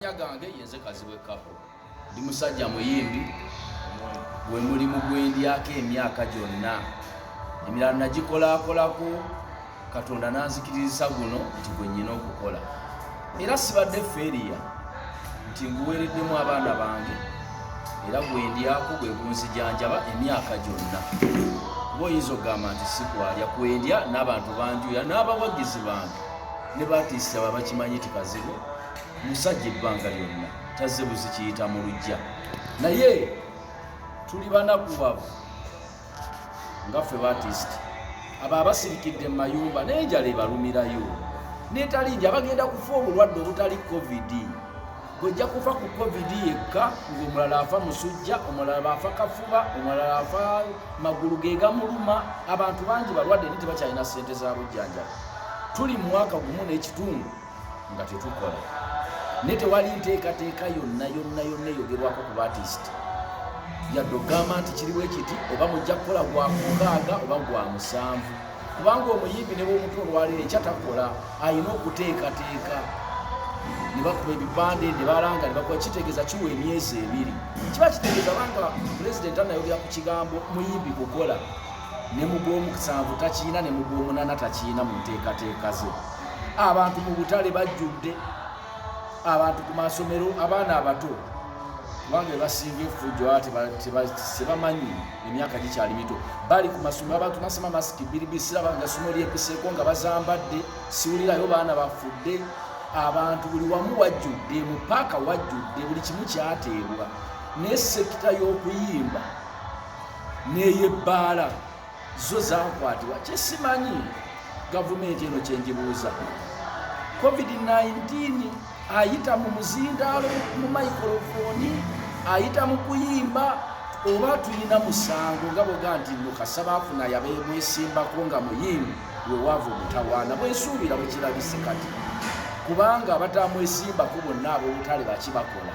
Amannya gange yenze Kazibwe Kapo, ndi musajja muyimbi gwe mulimu gwendyako emyaka gyonna emirala nagikolakolako katonda nanzikirizisa guno nti gwe nyina okukola era sibadde feriya nti nguweereddemu abaana bange era gwendyako gwe gunzijanjaba emyaka gyonna kuba oyinza okugamba nti sikwalya kwendya n'abantu banjuya n'abawagizi bange ne batiisaba bakimanyi ti kazibu musajja ebbanga lyonna tazze buzi kiyita mu lujja naye tuli banakubavu nga ffe batist abo abasirikidde mu mayumba naye njala ebalumirayo netali nja bagenda kufa obulwadde obutali covid bwejja kufa ku covid yekka ngaomulala afa musujja omulala baafa kafuba omulala afa magulu gegamuluma abantu bangi balwadde ni tebakyalina sente za bujjanjaba tuli mu mwaka gumu n'ekitundu nga tetukola naye tewali nteekateeka yonna yonna yonna eyogerwako ku batisiti yadde ogamba nti kiriwo ekiti oba mujja kukola gwa mukaaga oba gwa musanvu kubanga omuyimbi ne bwomutu olwaleero ekyatakola alina okuteekateeka ne bakuba ebipande ne balanga ne bakuba kitegeeza kiwa emyezi ebiri kiba kitegeeza banga pulezidenti anayogera ku kigambo muyimbi kukola ne mugwomusanvu takiina ne mugwomunana takiina mu nteekateeka ze abantu mu butale bajjudde abantu ku masomero abaana abato kubanga ebasinga efujjo tebamanyi emyaka gikyali mito bali ku masomero abantu nasema masiki biribisiraba nga somo lyepiseko nga bazambadde siwulirayo baana bafudde abantu buli wamu wajjudde mu paaka wajjudde buli kimu kyateebwa naye sekita y'okuyimba n'eyebbaala zo zakwatibwa kyesimanyi gavumenti eno kyenjibuuza covid-19 ayita mu muzindaalo mu maikrofoni ayita mu kuyimba oba tulina musango nga boga nti nukasaba afuna yabemwesimbako nga muyimbi wewaava omutawaana bwensuubira bwekirabise kati kubanga abatamwesimbako bonna abobutale bakibakola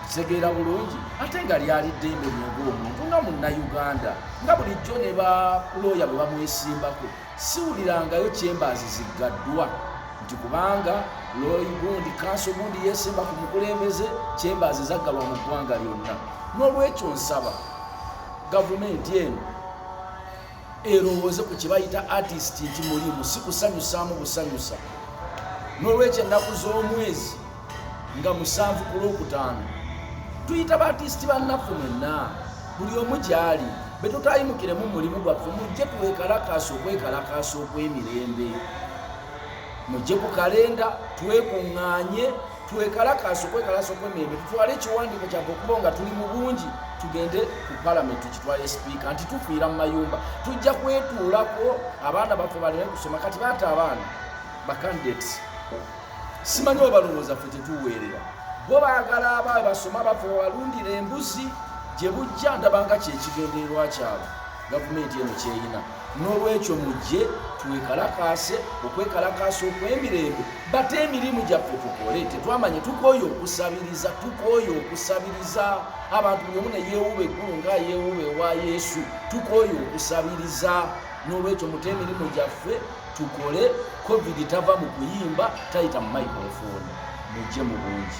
kitegeera bulungi ate nga lyali ddembe lyonga omuntu nga munnayuganda nga bulijjo ne balooya bwe bamwesimbako siwulirangayo kyembaazi ziggaddwa nti kubanga looyi gundi kanso gundi yeesimba ku mukulembeze kyembaazi zaggalwa mu ggwanga lyonna n'olwekyo nsaba gavumenti eno erowooze ku kyebayita artist nti mulimu si kusanyusaamu busanyusa n'olwekyo ennaku z'omwezi nga musanvu ku lwokutaano tuyita baatisiti bannaffe mwenna buli omu gyali be tutayimukiremu mulimu gwaffe mujje twekalakaasa okwekalakaasa okw'emirembe mujje ku kalenda twekuŋŋaanye twekalakaasa okwekalasa okwemirembe tutwale ekiwandiiko kyabwe okuba nga tuli mu bungi tugende ku palamenti tukitwale sipiika nti tufiira mu mayumba tujja kwetuulako abaana baffe baleme kusoma kati baata abaana bacandidates simanyi oba balowooza ffe tetuweerera bo baagala aba basoma baffe babalundira embuzi gye bujja ndabanga kyekigendererwa kyabwe gavumenti eno kyeyina n'olwekyo mujje twekalakaase okwekalakaasa okwemirembe bate emirimu gyaffe tukole tetwamanye tukooye okusabiriza tukooye okusabiriza abantu buli omu ne yeewuba eggulu nga yeewuba ewa yesu tukooye okusabiriza n'olwekyo mute emirimu gyaffe tukole covid tava mu kuyimba tayita mu microfooni mujje mu bungi